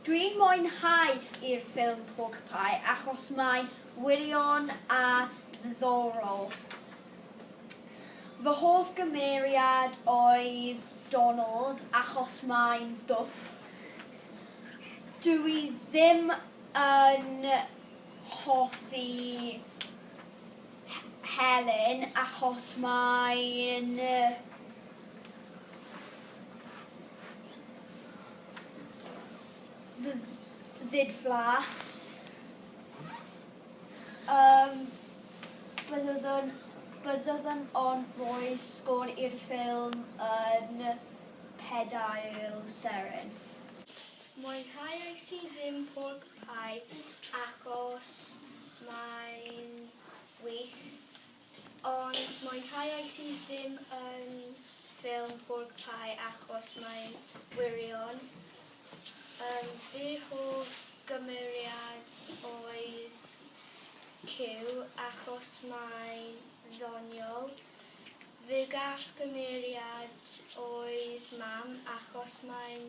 Dwi'n mwynhau i'r ffilm Porcupie achos mae'n wirion a ddiddorol. Fy hoff gymeriad oedd Donald achos mae'n dwp. Dw i ddim yn hoffi Helen, achos mae'n ddidflas. Yym, byddwn byddwn o'n rhoi sgôr i'r ffilm yn pedair seren. Mwynhaiais i ddim pork pie achos mae'n wych, ond mwynhaiais i ddim yn ffilm pork pie achos mae'n wirion. Yym fy hoff gymeriad oedd Cyw achos mae'n ddoniol. Fy gars gymeriad oedd Mam achos mae'n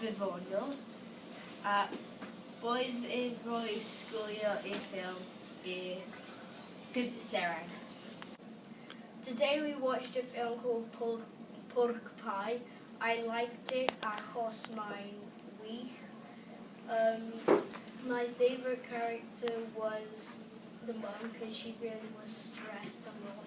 ddiddorol, a oedd e roi sgwlio i'r ffilm i bump seren. Today we watched a film called Pork Pie, I liked it achos mae'n wych, umm my favourite character was the mum cos she really was stressed a lot.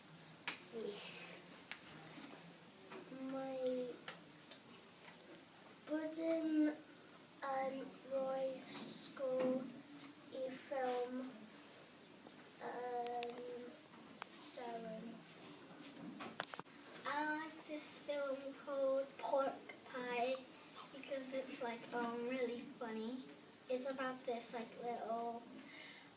Mae Bwdin yn rhoi sgôr i ffilm yn Samhain. I like this film called Pork Pie because it's like really funny. It's about this like little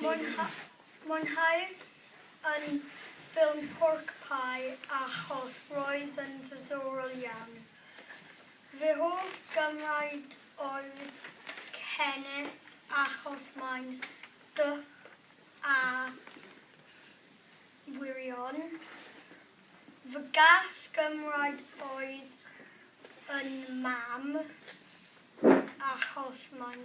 Mwynhaodd yn ffilm Pork Pie a Choth roedd yn ddiddorol iawn. Fy hoff gymraid oedd Kenneth achos mae'n dwp a wirion. Fy gall gymraid oedd yn Mam achos mae'n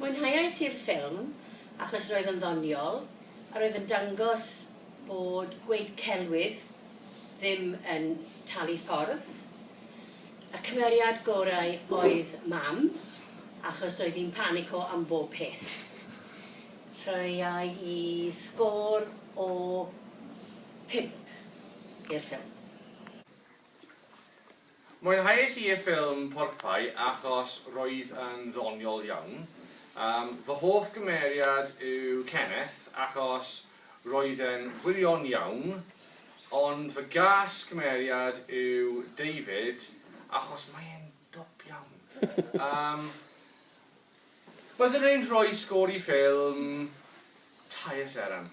Mwynhaiais i'r ffilm achos roedd yn ddoniol a roedd yn dangos bod gweud celwydd ddim yn talu ffordd. Y cymeriad gorau oedd Mam achos doedd hi'n panico am bob peth. Rhoiai i sgôr o phump i'r ffilm. Mwynhais i y ffilm Porcpie achos roedd yn ddoniol iawn. Fy hoff gymeriad yw Kenneth achos roedd e'n wirion iawn, ond fy gas cymeriad yw David achos mae e'n dwp iawn. Yym, byddwn i'n rhoi sgôr i ffilm Tair Seren.